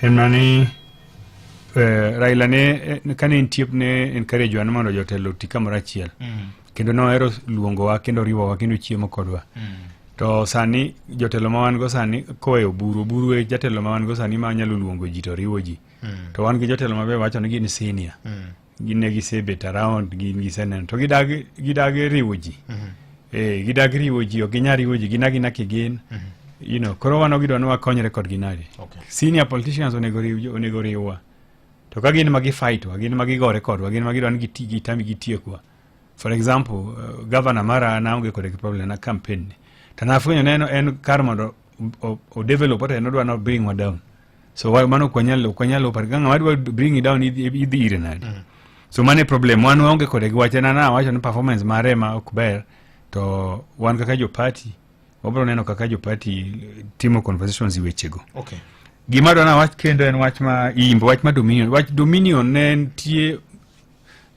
en mana ni Raila ne kane en tiep ne encourage wan mondo jotelo oti kamoro achiel kendo nohero luongowa kendo riwowa kendo chiemo kodwa to sani jotelo ma wan go sani kowe oburu oburu e jatelo ma wan go sani ma nyalo luongo ji to riwo ji to wan gi jotelo mabe wacho ni gin senior gin ne gisebet around gin giseneno to gidagi gidagi riwo ji eh gidagi riwo ji ok ginyal riwo ji gin agina kigin you know koro wan gidwa ni wakonyre kodgi nadi Okay. senior politicians onego riw onego riwwa to ka gin ma gifightwa gin ma gigore kodwa gin ma gidwa ni giti gitami gitiekwa for example uh, governor mara naonge kode gi problem na campaign ni to nafwenyo neno en kar mondo o develop ata en odwa no bring wa down so wa mano kwa nyalo kwa nyalo par ganga wadwa bring it down idhi ire nadi mm. so mane problem wan waonge kode gi wachana na wacho ni performance mare ma ok ber to wan kaka jo party wabro neno kaka jo party timo conversations i wechego okay gima dwana wach kendo en wach ma imbo wach ma dominion wach dominion ne nitie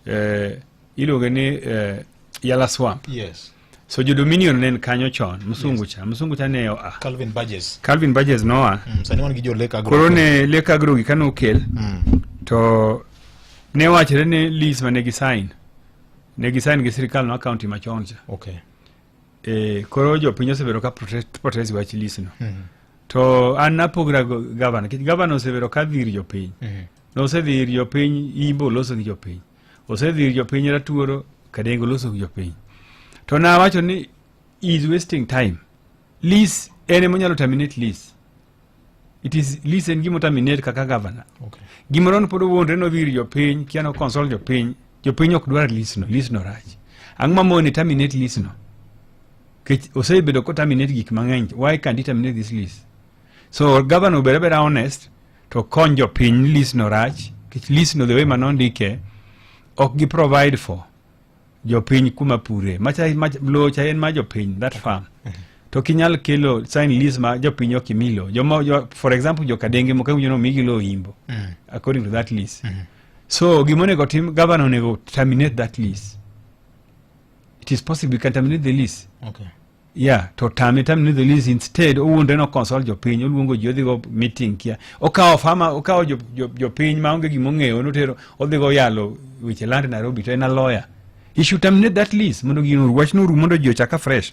eh, iluonge ni eh, yala swamp yes so jo dominion ne en kanyo chon msungu cha msungu cha ne oa calvin burgess calvin burgess noa mm, sani wan gi jo lake agro koro ne lake agro gi kano kel mm. to ne wachre ne lease mane gi sign ne gi sign gi sirikal no county machon cha okay e koro jo piny osebedo ka protest protest wach lease no mm. to an napogra governor governor osebedo ka dhir jo piny mm. nosedhir jo piny imbo loso gi jo piny osedhir jopiny ratuoro kadengo loso gi jopiny to na wacho ni is wasting time lease en ema onyalo terminate lease it is lease en gima terminate kaka governor okay. gimoro ni pod owuondre nodhi ir jopiny kia no consult jopiny jopiny ok dwar lease no lease no rach ang'o mamoni terminate lease no kech osebedo ko terminate gik mang'eny why can't he terminate this lease So governor obed abeda honest to kony jopiny ni list no rach kech list no the way mano ndike ok gi provide for jopiny kuma pure macha mach, lowo cha en ma jopiny that farm to kinyal kelo sign list ma jopiny ok imi lowo joma jo, for example jokadenge moko iwinjo ni omigi lowo imbo Mm. according to that list Mhm. so gima onego tim governor onego terminate that list it is possible you can terminate the list Okay. Yeah, to tame tam ni the least instead owuondre no consult jopiny oluongo ji odhigo meeting kia okawo fama okawo jopiny ma onge gima ong'eyo notero odhigo yalo weche land Nairobi to en a lawyer he should terminate that lease mondo gino wachno orum mondo ji ochaka fresh